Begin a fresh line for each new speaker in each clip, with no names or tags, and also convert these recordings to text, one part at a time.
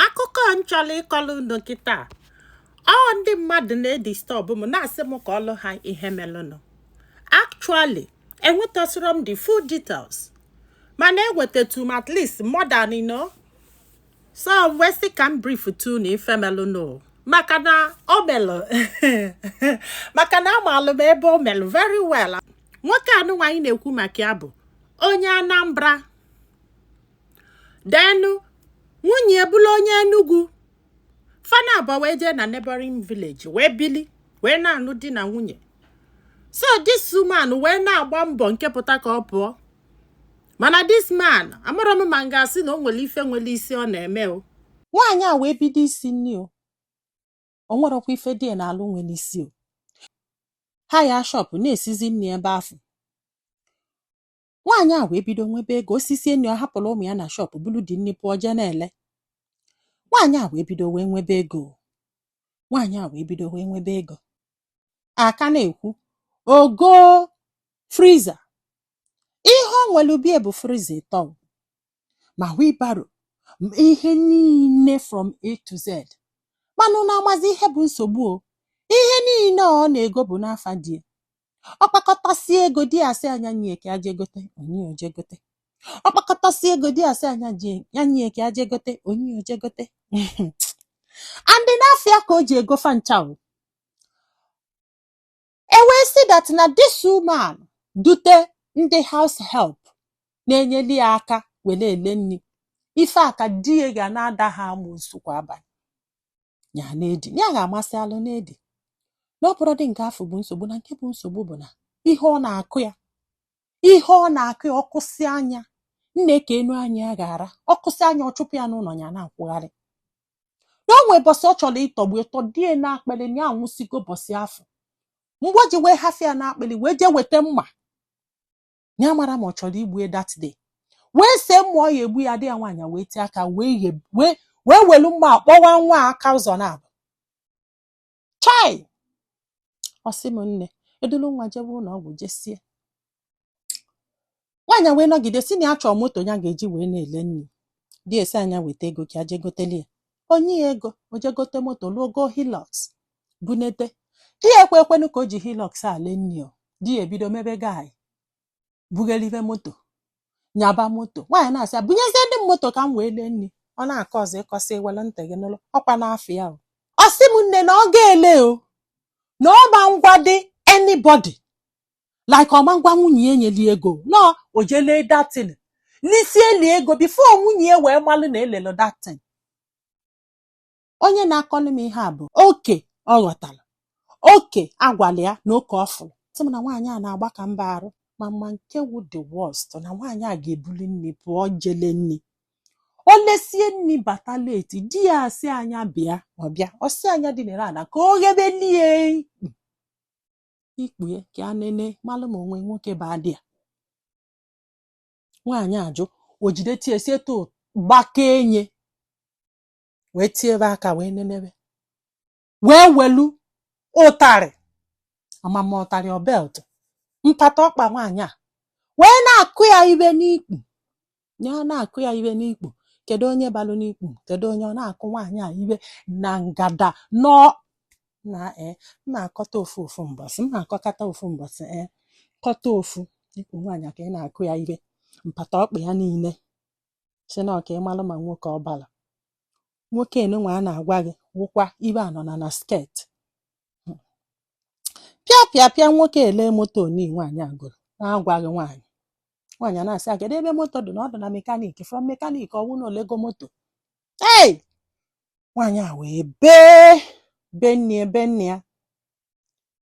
akụkọ m chọrọ ịkọrọ unu kịta ọ ndị mmadụ na-edistọbụ m na-asị m kọọlụ ha ihe melụnụ actually enwetasịrọ m the full details mana enwetatụ m at least more than you know so wee sị ka m brief tụ unu ife melụnụ maka na o melụ maka na amalụ m ebe o melụ very well nwoke anụnwa anyị na-ekwu maka ya bụ onye Anambra then nwunye ya bụrụ onye Enugu fa naabọ wee jee na neighboring village wee bili wee na-anụ di na nwunye so this woman wee na-agba mbọ nke pụta ka ọ pụọ mana this man amarọ m ma m ga-asị na o nwere ife nwere isi ọ na-eme o nwaanyị a wee bido isi nni o o nwerọkwa ife di ya na-alụ nwere isi o hire shọpụ na-esizi nni ebe afụ nwaanyị a wee bido nwebe ego o sisie nni ọ hapụrụ ụmụ ya na shọpụ bulu dị nni pụọ jee na-ele nwaanyị a wee bido wee nwebe ego nwaanyị a wee bido wee nwebe ego a ka na-ekwu o goo friza ihe o nwelu be ya bụ friza ịtọ ma wheelbarrow ihe niile from A to Z mana unu amazi ihe bụ nsogbu o ihe niile ọ na-ego bụ n'afa di ọ kpakọtasị ego di ya sị a nya nye ka a je gote o nye o je gote ọ kpakọtasị ego di ya sị a nya je ya nye ka a je gote o nye o je gote and n'afa ya ka o ji ego fa ncha o e wee sị that na this woman dute ndị house help na-enyeli ya aka were ele nri ife a ka di ya ga na-ata ha amụsụ kwa abalị ya na-edi ya ga-amasị alụ na-edi na ọ bụrọdị nke afụ bụ nsogbu na nke bụ nsogbu bụ na ihe ọ na-akụ ya ihe ọ na-akụ ya ọ kụsịa nya nne ka enu anya ya ga-ara ọ kụsịa nya ọ chụpụ ya n'ụlọ ya na-akwụgharị na o nwee bọsị ọ chọrọ ịtọgbu ịtọdo ya n'akpịlị na ya anwụsịgo bọsị afụ mgbe o ji wee hafụ ya n'akpịlị wee jee weta mma ya amarọ ma ọ chọrọ igbu ya that day wee see mma ọ ya-egbu ya ada ya nwaanyị wee tie aka wee ghe- wee wee welu mma kpọwa nwa a aka ụzọ naabọ chai ọ sị m nne e dulu nwa jebe ụlọ ọgwụ jesie nwaanyị wee nọgide sị na ya chọọ moto ya ga-eji wee na-ele nri di ya asị a nya weta ego ka je goteli ya o nye ya ego o je gote moto lụọ go Hilux bunete di ekwe ekwenu ka o ji Hilux a lee nni o di ya ebido mebe guy bughelive moto nyaba moto nwaanyị na-asị ya bunyezie ndị m moto ka m wee lee nni ọ na-akọ ọzọ ịkọsị were ntị gị n'ụlọ ọkwa n'afọ ya o ọ sị m nne na ọ ga-ele o na ọ ma agwadị anybody like ọ ma agwa nwunye ya enyeli ego na o jee lee that thing lisie lie ego before nwunye ya wee malụ na elelo that thing onye na-akọlụ m ihe a bụ oke ọ ghọtara oke a gwalụ ya na oke ọ fụrụ sị m na nwaanyị a na-agbaka mbọ arụ ma ma nke wụ the worst na nwaanyị a ga-ebuli nni pụọ je lee nni o lesie nni bata late di ya asị a nya bịa ọ bịa ọ sị a nya dinere ana ka o ghebelie ikpu e ka a nene malụ ma o nwe nwoke badị ya nwaanyị ajụ o jide tie sie to gbakee nye wee tiebe aka wee nenebe wee welu ụtarị amama ụtarị ọ belt mpata ọkpa nwaanyị a wee na-akụ ya ibe n'ikpu ya ọ na-akụ ya ibe n'ikpu kedu onye balụ n'ikpu kedu onye ọ na-akụ nwaanyị a ibe na ngada nọ na ee m na-akọta ofu ofu mbọsị m na-akọkata ofu mbọsị ee kọta ofu ikpu nwaanyị a ka ị na-akụ ya ibe mpata ọkpa ya niile sị na ọ ka ọ malụ ma nwoke ọ bara nwoke nunwa a na-agwa gị wụkwa ibe anọ na na skirt hmm. pịa pịa pịa nwoke ele moto ni nwaanyị a goro na-agwaghị nwaanyị nwaanyị a na-asị agada ebe moto dị na ọ dị na mechanic from mechanic ọ wụ na o lego moto ei nwaanyị a wee bee benie benie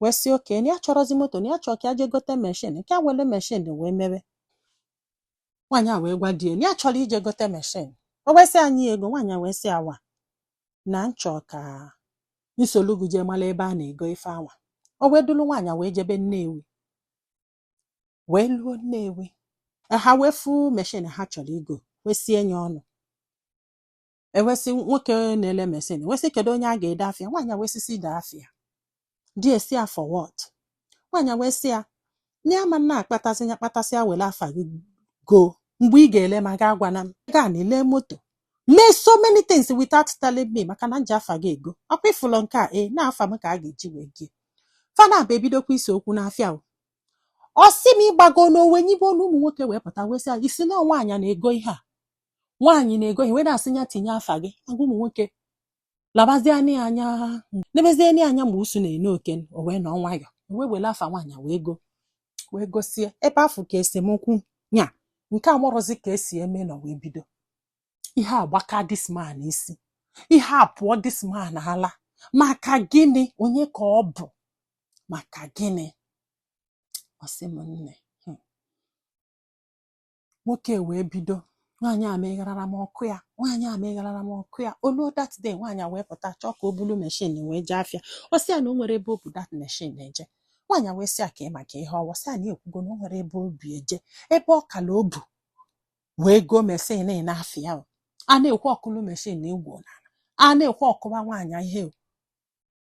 wee sị okay na ya achọrọzi moto na ya chọọ ka ya jee gote machine ka ya wele machine wee mebe nwaanyị a wee gwa di ya na ya chọrọ ije gote machine o wee sị a nye ego nwaanyị a wee sị ya waa na m chọ ka m solu gị jee mala ebe a na-ego ife anwa o wee dulu nwaanyị a wee jebe Nnewi wee luo Nnewi ha wee fụ machine ha chọrọ igo wee sie nya ọnụ e wee sị nwoke na-ele machine e wee sị kedu onye a ga-ede afa ya nwaanyị wee sị sị dee afa ya di e sị ya for what nwaanyị wee sị ya na ya ama na-akpatasị ya kpatasị ya were afa gị go mgbe ị ga-ele ma ga agwana m gaa na i le moto mee so many things without telling me maka na m ji afa gị ego ọkwa ị fụlụ nke a ee na afa m ka a ga-eji wee go fa naabọ ebidokwa ise okwu n'afịa o ọ sị m ịgbago na o wee nyibe olu ụmụ nwoke wee pụta wee sị ya ị sị na nwaanyị na-ego ihe a nwaanyị na-ego ihe wee na-asị ya tinye afa gị agwa ụmụ nwoke labazie anya anya nebezie anya anya mgbe usu na-ene oke o wee nọ nwayọ wee were afa nwaanyị wee gosie ebe afụ ka esemokwu nya nke a marọzi ka e si eme nọ wee bido ihe a gbaka this man isi ihe a pụọ this man ala maka gịnị onye ka ọ bụ maka gịnị ọ sị m nne nwoke wee bido nwaanyị a megharara m ọ kụọ ya nwaanyị a megharara m ọ kụọ ya o lu that day nwaanyị wee pụta chọọ ka o bulu meshin wee jee afịa ọ sị ya na o nwere ebe o bu that meshin eje nwaanyị wee sị ya ka ị maka ihe o wee sị ya na ya ekwugo na o nwere ebe o bu ya eje ebe ọ kala o bu wee goo meshin n'afịa o. a na-ekwu ọ kụlụ meshin na egwu a na-ekwu ọ kụwa nwaanyị ihe o.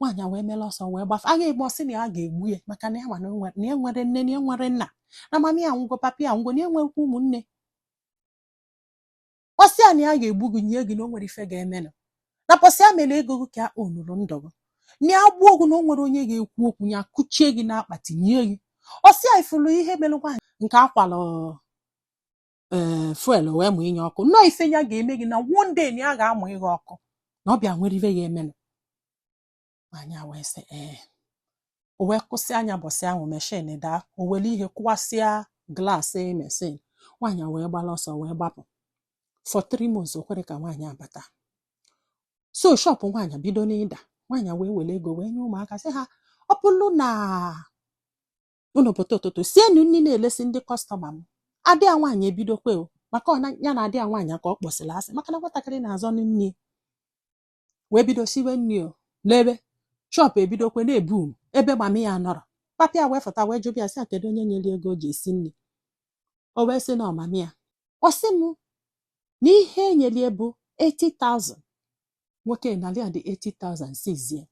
nwaanyị wee mere ọsọ wee gbafe agha egbu ọ sị na ya ga-egbu ya maka na ya ma na ya enwerọ nne na ya enwerọ nna na mami ya anwụgo papi ya anwụgo na ya nwekwa ụmụnne ọ sị ya na ya ga-egbu gị nie gị na o nwerọ ife ga-emenụ na pọsị ya mere ego gị ka o nụrụ ndụ gị na ya gbuo gị na o nwerọ onye ga-ekwu okwu ya kụchie gị n'akpati nie gị ọ sị ya ị furu ihe mere nwaanyị nke a kwalụ ee eh, fuel wee mụnye ọkụ na ọ ife ya ga-eme gị na one day na ya ga-amụ gị ọkụ na ọ bịa nwere ife ya emenụ nwaanyị wee sị ee eh. o wee kụsịa nya bọsị ahụ meshin daa o were ihe kụwasịa glaasị meshin nwaanyị wee gbala ọsọ wee gbapụ for three months o kwerọ ka nwaanyị abata so shọpụ nwaanyị bido n'ịda nwaanyị wee were ego wee nye ụmụaka sị ha ọ bụrụ na unu pụta ụtụtụ sienu nri na-elesi ndị kọstọma m ada ya nwaanyị ebidokwe o maka ọ na- ya na ada ya nwaanyị ka ọ kpọsịrị asị maka na nwatakịrị na-azọ nne ya wee bido siwe nri o n'ebe shọpụ ebidokwe na-ebu m ebe mami ya nọrọ papa ya wee fụta wee jụba ya sị ya kedu onye nyere ego o ji esi nri o wee sị na ọ mami ya ọ sị m na ihe e nyelu ya bụ 80,000 nwoke nalị ya the 80,000 sizie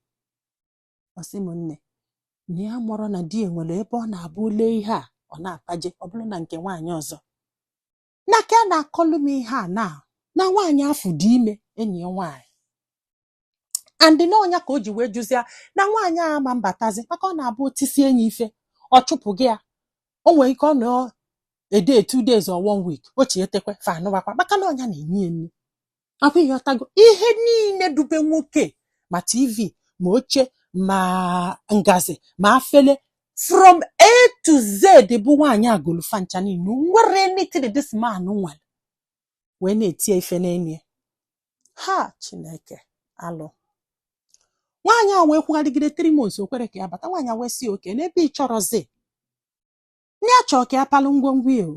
ọ sị m nne na ya marọ na di ya nwere ebe ọ na-abụ o lee ihe a ọ na-apaje ọ bụrụ na nke nwaanyị ọzọ na ka a na-akọlụ m ihe a na na nwaanyị afụ dị ime enyi ya nwaanyị and na ọ nya ka o ji wee jụzia na nwaanyị a ma abatazi maka ọ na-abụ o tisie nya ife ọ chụpụ gị ya o nwere ike ọ nọ a day two days or one week o chietekwe fa anụwakwa maka na ọ nya na-enye ya nri akwa ị ghọtago ihe niile dube nwoke ma tv ma oche ma ngazi ma afele from a to z bụ nwaanyị a golu fa ncha niile o nwerọ anything this man nwere wee na-eti ya ife n'enye ha chineke alụ nwaanyị a wee kwugharịgide three months o kwerọ ka ya bata nwaanyị a wee sị okay n'ebe ị chọrọzi na ya chọọ ka ya palụ ngwongwo ya o